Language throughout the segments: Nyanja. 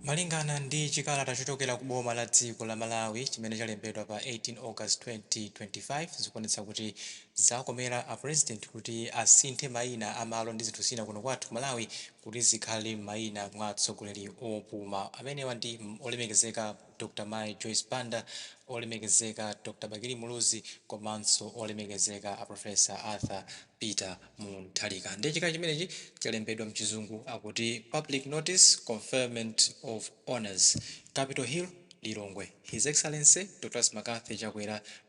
Malingana ndi chikalata chochokera ku boma la dziko la Malawi chimene chalembedwa pa 18 August 2025 zikuonetsa kuti zakomera a President kuti asinthe maina a malo ndi zinthu zina kuno kwathu Malawi kuti zikhale mmaina mwa atsogoleri opuma amenewa ndi olemekezeka Dr. Mai Joyce Banda, Olemekezeka Dr. Bakili Muluzi komanso Olemekezeka a Professor Arthur Peter Mutharika. Ndiye chikalata chimenechi chalembedwa mchizungu akuti Public Notice, Conferment of Honours, Capital Hill, Lilongwe. His Excellency Dr. Lazarus McCarthy Chakwera,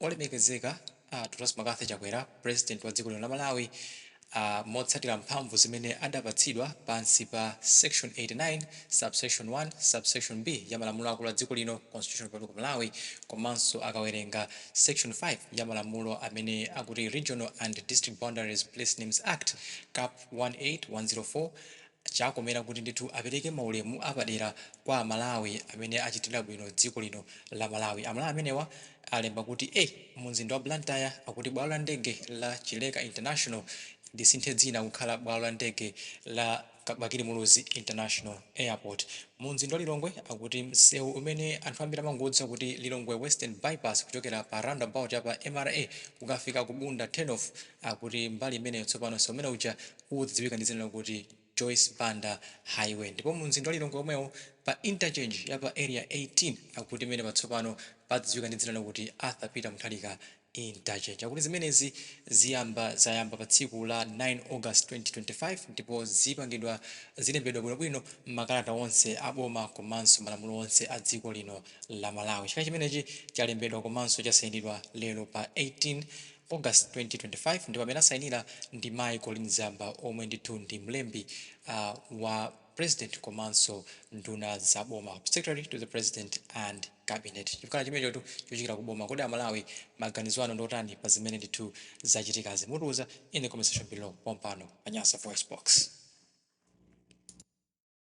Olemekezeka Dr. Lazarus McCarthy Chakwera President wa dziko lino la Malawi motsatira mphamvu zimene adapatsidwa pansi pa section 89 subsection 1 subsection B ya malamulo akulu a dziko lino Constitution of Republic of Malawi komanso akawerenga section 5 ya malamulo amene akuti Regional and District Boundaries Place Names Act Cap 18104 Chakomera kuti ndithu apereke maulemu apadera kwa a Malawi amene achitira bwino dziko lino la Malawi. A Malawi amenewa alemba kuti mu mzinda wa Blantyre akuti bwalo la ndege la Chileka International lisinthe dzina kukhala bwalo la ndege la Bakili Muluzi International Airport. Mu mzinda wa Lilongwe akuti msewu umene anthu ambiri amangodziwa kuti Lilongwe Western Bypass kuchokera pa roundabout ya pa MRA kukafika ku Bunda Turnoff Akuti mbali imeneyo tsopano msewu umene uja udziwika ndi dzina lokuti Joyce Banda Highway ndipo mu mzinda wa Lilongwe omwewo pa Interchange ya pa Area 18 akuti pamenepa tsopano padziwika ndi dzina lokuti Arthur Peter Mutharika Interchange. Akuti zimenezi ziyamba zayamba pa tsiku la 9 August 2025 ndipo zipangidwa zilembedwa bwino bwino m'makalata onse a boma komanso malamulo onse a dziko lino la Malawi. Chikalata chimenechi chalembedwa komanso chasayinidwa lero pa 18 August 2025 ndipo amene asayinira ndi Mayi Colleen Zamba omwe ndithu ndi mlembi wa President komanso nduna za boma, Secretary to the President and Cabinet. Chikalata chimenechotu chochokera ku boma. Kodi a Malawi maganizo anu ndi otani pa zimene ndithu zachitikazi? Mutiuza in the comment section below pompano pa Nyasa VoiceBox.